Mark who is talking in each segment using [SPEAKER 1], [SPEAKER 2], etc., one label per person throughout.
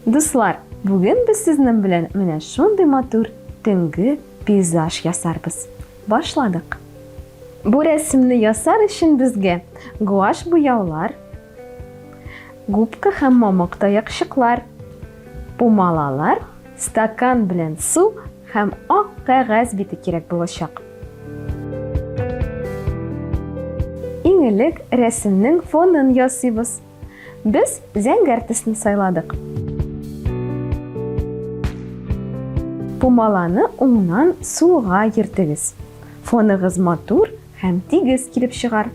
[SPEAKER 1] Дуслар, бүген без сезнең белән менә шундый матур төнге пейзаж ясарбыз. Башладык. Бу рәсемне ясар өчен безгә гуаш буяулар, губка һәм мамык таякчыклар, пумалалар Стакан белән су һәм ак кәгазь бите кирәк булачак. Иң элек рәсемнең фонын ясыйбыз. Без зәңгәр төсне сайладык. Пумаланы уңнан сулга йөртегез. Фоныгыз матур Һәм тигез килеп чыгар.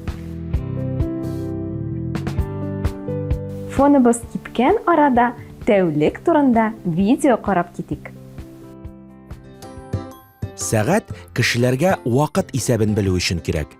[SPEAKER 1] Фоныбыз кипкән арада тәүлек турында видео карап китик.
[SPEAKER 2] Сәгать кешеләргә вакыт исәбен белү өчен кирәк.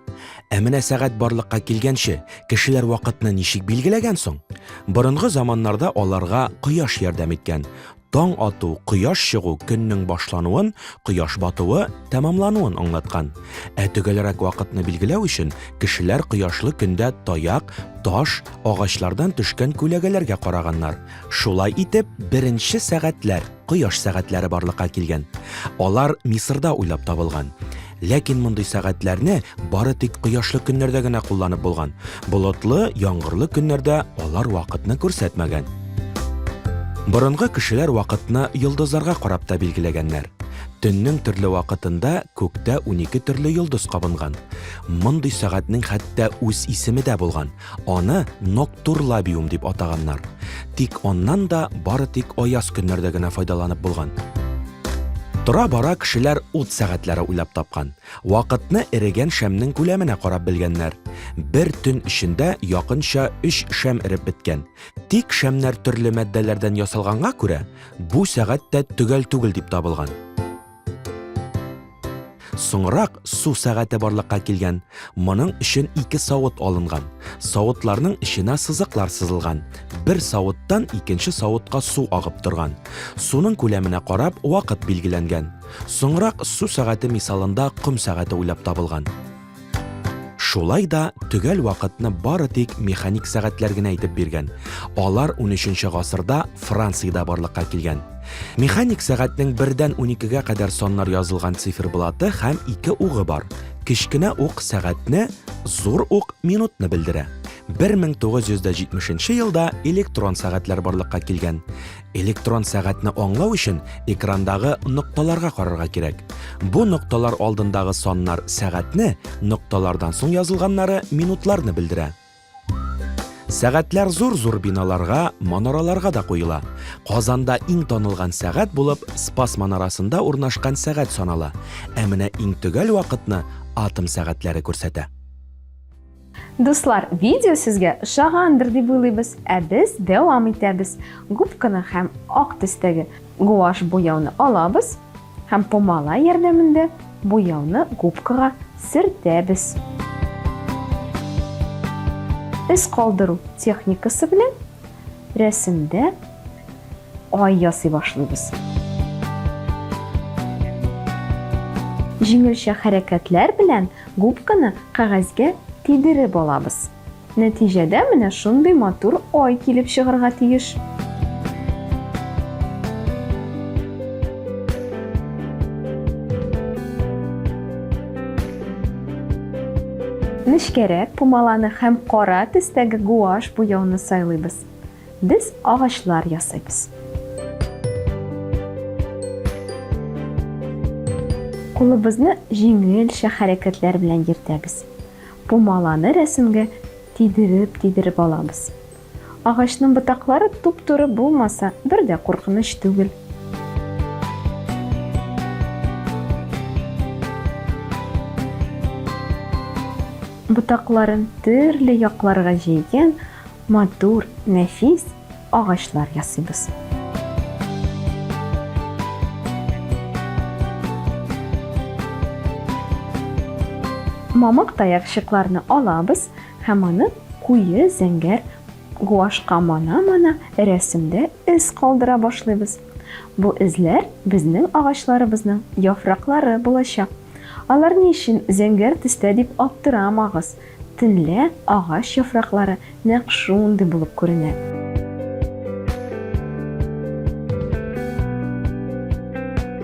[SPEAKER 2] Ә менә сәгать барлыкка килгәнче, кешеләр вакытны ничек билгеләгән соң? Борынгы заманнарда аларга кояш ярдәм иткән. Таң ату, кояш чыгу көннең башлануын, кояш батуы тәмамлануын аңлаткан. Ә төгәлрәк вакытны билгеләү өчен кешеләр кояшлы көндә таяк, таш, агачлардан төшкән күләгәләргә караганнар. Шулай итеп, беренче сәгатьләр, кояш сәгатьләре барлыкка килгән. Алар Мисырда уйлап табылган. Ләкин мондый сәгатьләрне бары тик кояшлы көннәрдә генә кулланып булган. Болытлы, яңгырлы көннәрдә алар вакытны күрсәтмәгән. Борынгы кешеләр вакытны йолдызларга карап та билгеләгәннәр. Төннең төрле вакытында күктә 12 төрле йолдыз кабынган. Мондый сәгатьнең хәтта үз исеме дә булган. Аны ноктурлабиум дип атаганнар. Тик аннан да бары тик аяз көннәрдә генә файдаланып булган. Тора-бара кешеләр ут сәгатьләре уйлап тапкан. Вакытны эрегән шәмнең күләменә карап белгәннәр. Бер төн эчендә якынча 3 шәм эреп беткән. Тик шәмнәр төрле матдәләрдән ясалганга күрә, бу сәгать тә төгәл түгел дип табылган. Соңрак су сәгате барлыкка килгән. Моның өчен ике савыт алынган. Савытларның эченә сызыклар сызылган. Бер савыттан икенче савытка су агып торган. Суның күләменә карап, вакыт билгеләнгән. Соңрак су сәгате мисалында ком сәгате уйлап табылган. Шулай да төгәл вакытны бары тик механик сәгатьләр генә әйтеп биргән. Алар унөченче гасырда Франциядә барлыкка килгән. Механик сәгатьнең бердән уникегә кадәр саннар язылган циферблаты һәм ике угы бар. Кечкенә ук сәгатьне, зур ук минутны белдерә. 1970 нче елда электрон сәгатьләр барлыкка килгән. Электрон сәгатьне аңлау өчен экрандагы нокталарга карарга кирәк. Бу нокталар алдындагы саннар сәгатьне, нокталардан соң язылганнары минутларны белдерә. Сәгатьләр зур-зур биналарга, манараларга да куела. Казанда иң танылган сәгать булып Спас манарасында урнашкан сәгать санала. Ә менә иң төгәл вакытны атом сәгатьләре күрсәтә.
[SPEAKER 1] Дуслар, видео сезгә ошагандыр дип уйлыйбыз, ә без дәвам итәбез. Губканы һәм ак төстәге гуаш буяуны алабыз һәм помала ярдәмендә буяуны губкага сөртәбез. Эз калдыру техникасы белән Рәсемдә ай ясый башлыйбыз. Җиңелчә хәрәкәтләр белән губканы кәгазьгә тидереп алабыз. Нәтиҗәдә менә шундый матур ай килеп чыгарга тиеш. Нечкәрәк пумаланы һәм кара төстәге гуашь буяуны сайлыйбыз. Без агачлар ясыйбыз. Кулыбызны җиңелчә хәрәкәтләр белән йөртәбез. Пумаланы рәсемгә тидереп-тидереп алабыз. Агачның ботаклары туп-туры булмаса, бер дә куркыныч түгел. Ботакларын төрле якларга җәйгән матур, нәфис агачлар ясыйбыз. Мамык таякчыкларны алабыз, Һәм аны куе зәңгәр гуашька мана-мана рәсемдә эз калдыра башлыйбыз. Бу эзләр безнең агачларыбызның яфраклары булачак. Алар ни өчен зәңгәр төстә дип аптырамагыз, төнлә агач яфраклары нәкъ шундый булып күренә.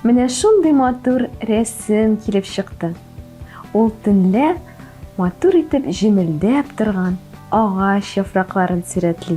[SPEAKER 1] Менә шундый матур рәсем килеп чыкты. Ул төнлә матур итеп җемелдәп торган агач яфракларын сурәтли.